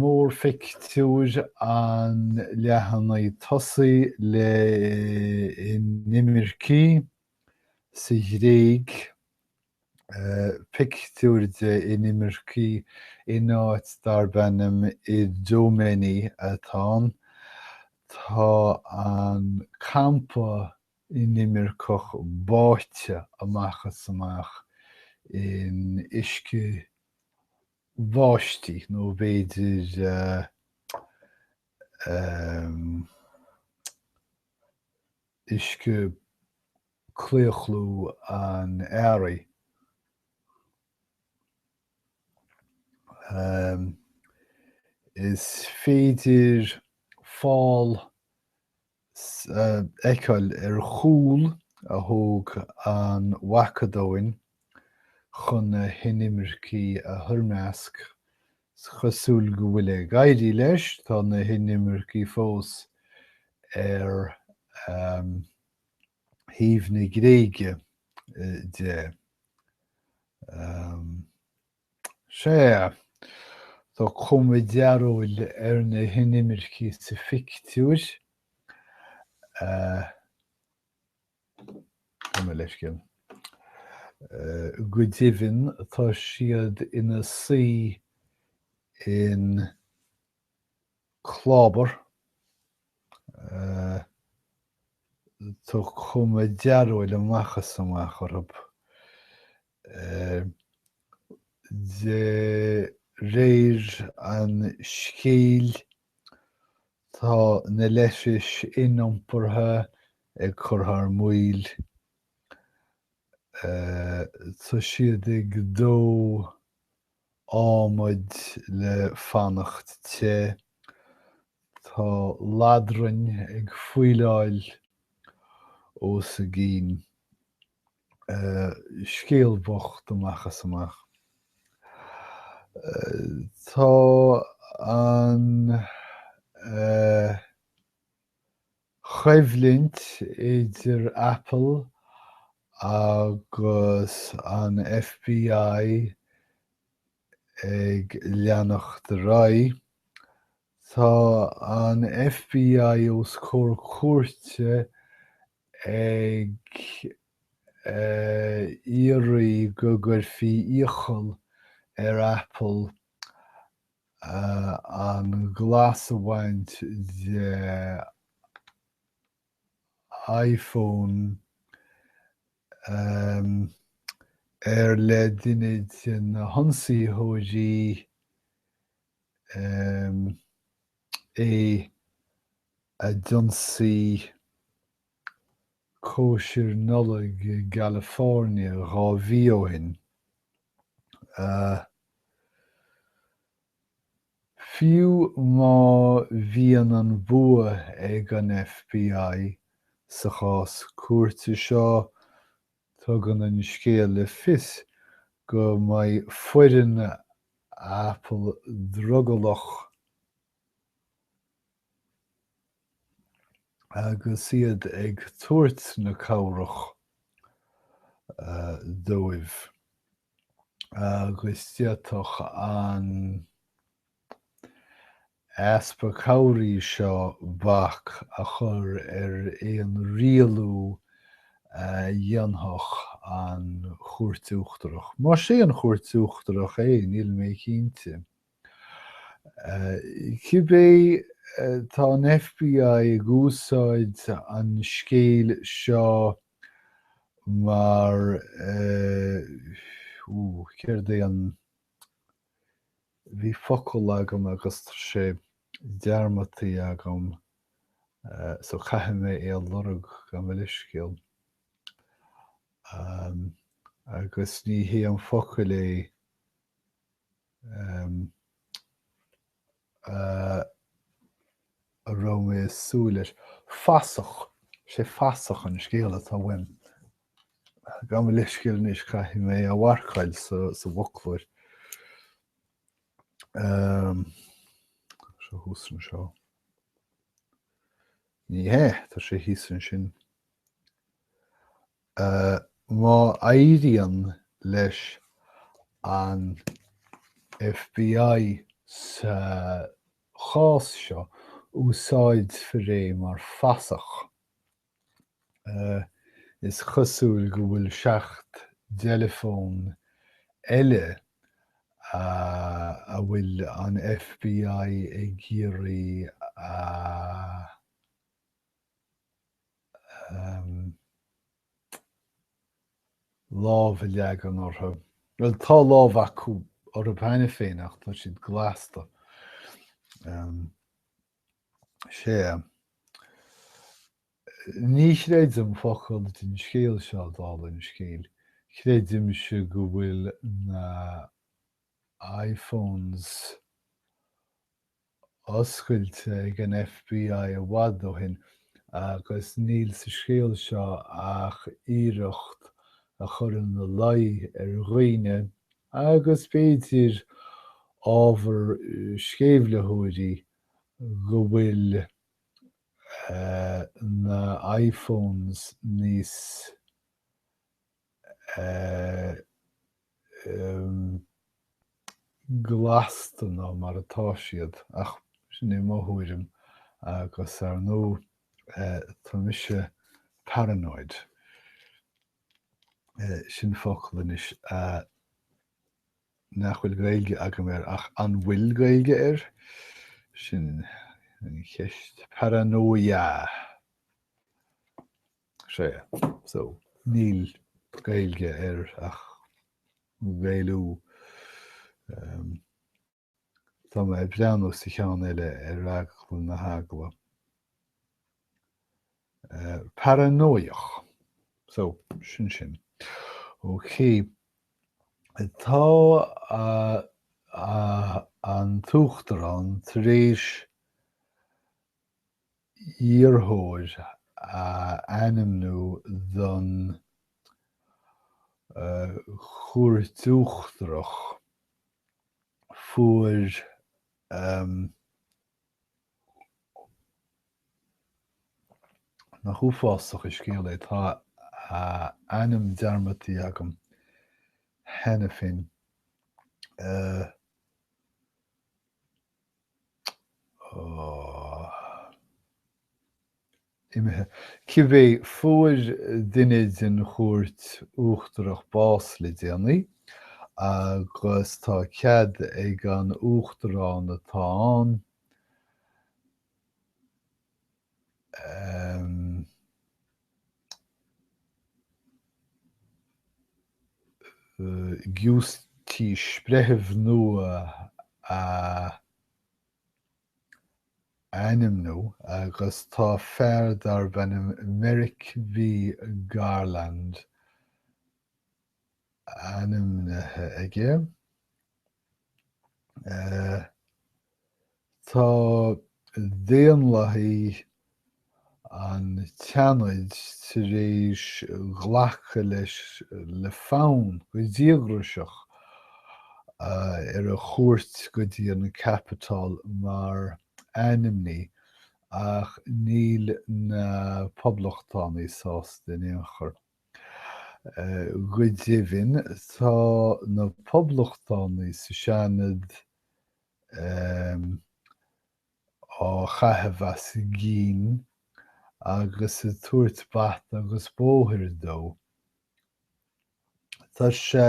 mórphictiúir an leathanaigh tosaigh le inimircigh sa Ghréig, pictiúr de inimircigh in áit darb ainm Idomeni atá ann. Tá an campa inimirceach báite amach is amach in uisce bháistí nó b'fhéidir uisce claochlú an earraigh. Is féidir fál a fheiceáil ar chúl a thóg an Mhacadóin chun na hinimircigh a thoirmeasc. Is cosúil go bhfuil ag éirí leis, tá na hinimircigh fós ar thaobh na Gréige de. Sea, tá cuma dearóil ar na hinimircigh sa phictiúr. Gabh mo leithscéal. Go deimhin, tá siad ina suí in clábar. Tá cuma dearóil amach is amach orthu. De réir an scéal, tá na leithris iniompartha ag cur thar maoil. Tá siad ag dó adhmaid le fanacht te. Tá ladrainn ag faoileáil os a gcinn. Scéal bocht amach is amach. Tá an choimhlint idir Apple agus an FBI Ag leanacht ar aghaidh, tá an FBI os comhair cúirte ag iarraidh go gcuirfí iachall ar Apple an glas a bhaint de iPhone gur le duine de na hionsaitheoirí é a d'ionsaigh cóisir Nollag i gCalifornia dhá mhí ó shin. Fiú má bhíonn an bua ag an FBI sa chás cúirte seo, tugann an scéal le fios go mbeidh foireann Apple drogallach, agus iad ag tabhairt na cabhrach dóibh, agus d'fhéadfadh an easpa cabhrach seo bac a chur ar aon rialú a dhéanfadh an Chúirt Uachtarach. Más é an Chúirt Uachtarach é, níl mé cinnte. Cibé, tá an FBI ag úsáid an scéil seo mar, ó, céard é an, bhí focal agam agus tá sé dearmadta agam so caithfidh mé é a lorg gabh mo leithscéal, agus ní hé an focal é. a raibh mé ag súil leis. Fasach, sé fasach an focal atá uaim. Gabh mo leithscéal anois, caithfidh mé a mharcáil sa bhfoclóir. Seo thuas anseo. Ní hé, tá sé thíos ansin. Má éiríonn leis an FBI sa chás seo, úsáidfear é mar fasach. Is cosúil go bhfuil seacht dteileafón eile a bhfuil an FBI ag iarraidh a. lámh a leagan orthu. Bhuel, tá lámh acu orthu cheana féin ach tá siad glasáilte. Sea. Ní chreidim focal den scéal seo, dála an scéil. Creidimse go bhfuil na iPhones oscailte ag an FBI i bhfad ó shin agus níl sa scéal seo ach iarracht a chur ina luí ar dhaoine agus, b'fhéidir, ábhar sceimhlitheoirí go bhfuil na iPhones níos. glasta ná mar atá siad, ach sin é mo thuairim agus ar ndóigh tá mise paranoid, sin focal anois nach bhfuil Gaeilge agam air ach an bhfuil Gaeilge air? sin an cheist, paranóia. sea, so, níl Gaeilge air ach Gaelú. Tá mé ag breathnú sa cheann eile ar eagla na heagla. Paranóiach. So, sin sin. OK. Tá an tUachtarán tar éis iarrthóir a ainmniú don Chúirt Uachtarach, fuair an. Nach uafásach an scéal é, tá a ainm dearmadtaithe agam cheana féin. imithe. Cibé, fuair duine den Chúirt Uachtarach bás le déanaí agus tá cead ag an Uachtarán atá ann a. Giúistís breitheamh nua a ainmniú agus tá fear darb ainm Merrick B. Garland ainmnithe aige. Tá Daonlathaí an tSeanaid tar éis glacadh leis le fonn go díograiseach ar a chuairt go dtí an Capitol mar ainmní ach níl na poblachtánaigh sásta in aon chor. Go deimhin, tá na poblachtánaigh sa Seanad á gcaitheamh as a gcinn agus ag tabhairt bata agus bóthair dó. Tá sé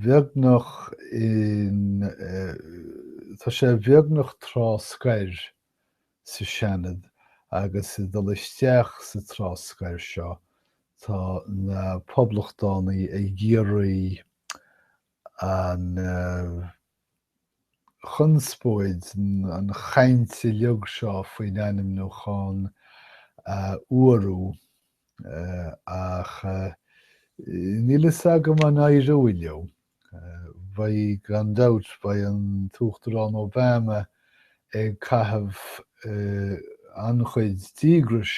beagnach in tá sé beagnach tráth scoir sa Seanad agus ag dul isteach sa tráth scoir seo tá na poblachtánaigh ag iarraidh an chonspóid an chaint uilig seo faoin ainmniúchán a fhuarú ach níl a fhios agam an éireoidh leo. Beidh, gan dabht, beidh an tUachtarán Obama ag caitheamh an-chuid díograis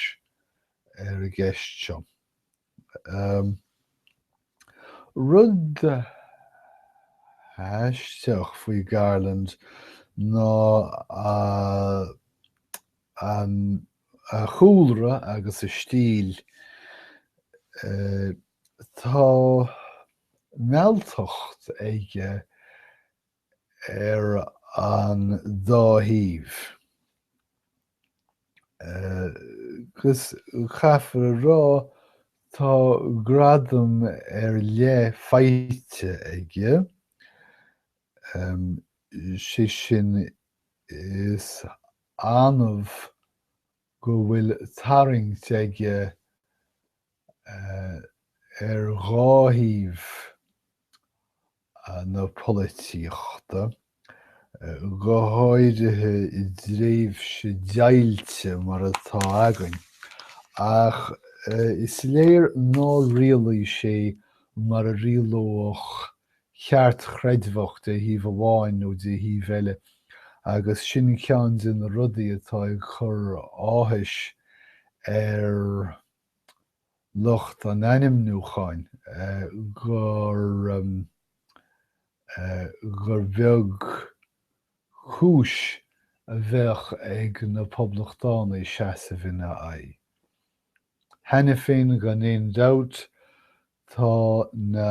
ar an gceist seo. Rud aisteach faoi Garland ná a chúlra agus a stíl. Tá mealltacht aige ar an dá thaobh, agus caithfear a rá, tá gradam ar leith faighte aige, sé sin, is annamh go bhfuil tarraingt aige ar dhá thaobh na polaitíochta, go háirithe i dtréimhse deighilte mar atá againn, ach is léir nár rialaigh sé mar a rialódh ceartchreidmheach de thaobh amháin nó de thaobh eile agus sin ceann de na rudaí atá ag cur áthais ar lucht an ainmniúcháin gur gur beag cúis a bheadh ag na Poblachtánaigh seasamh ina aghaidh. Cheana féin, gan aon dabht, tá na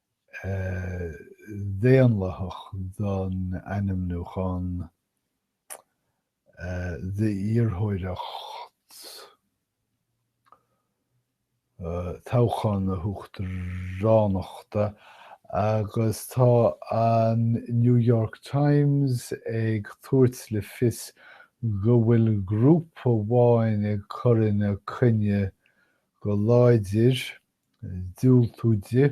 Dhaonlathach don ainmniúchán d'iarrthóireacht toghchán na huachtaránachta agus tá an New York Times ag tabhairt le fios go bhfuil grúpa amháin ag cur ina coinne go láidir, ag diúltú di.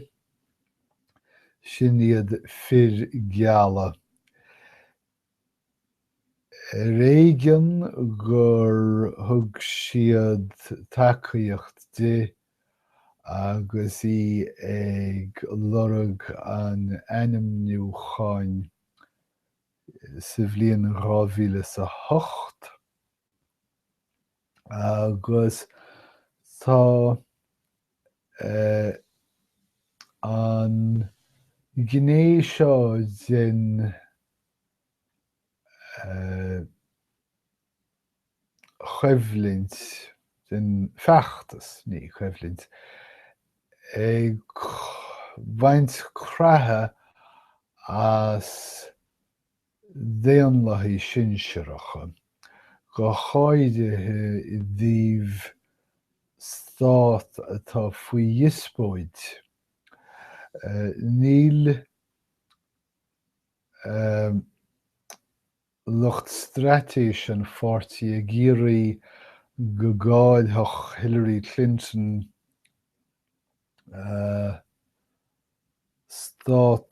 Sin iad fir geala. Ar éigean gur thug siad tacaíocht di agus í ag lorg an ainmniúcháin sa bhliain 2008. agus tá an ghné seo den choimhlint, den feachtas, ní coimhlint, ag baint creathadh as, Daonlathaithe sinsearacha, go háirithe i dtaobh stát atá faoi dhíospóid. Níl lucht straitéise an pháirtí ag iarraidh go gcaillfeadh Hillary Clinton stát,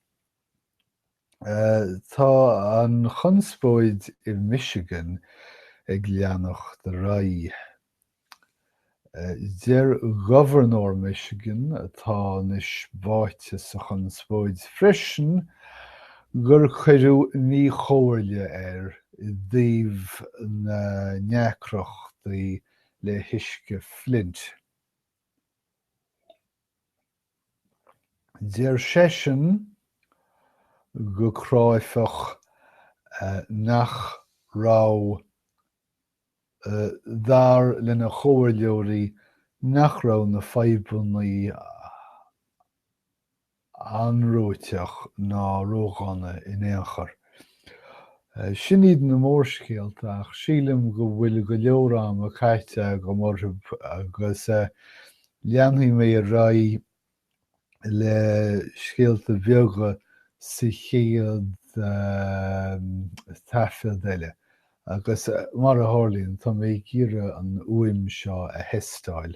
Tá an chonspóid i Michigan ag leanacht ar aghaidh. Deir gobharnóir Michigan, atá anois báite sa chonspóid freisin, gur cuireadh míchomhairle air i dtaobh na ndeacrachtaí le huisce Flint. Deir seisean go cráifeach nach raibh, dar lena chomhairleoirí, nach raibh na fadhbannaí anróiteach ná róghránna in aon chor. Sin iad na mórscéalta ach sílim go bhfuil go leor ama caite agam orthu agus leanfaidh mé ar aghaidh le scéalta beaga sa chéad taifead eile agus, mar a tharlaíonn, tá mé ag iarraidh an fhuaim seo a thestáil.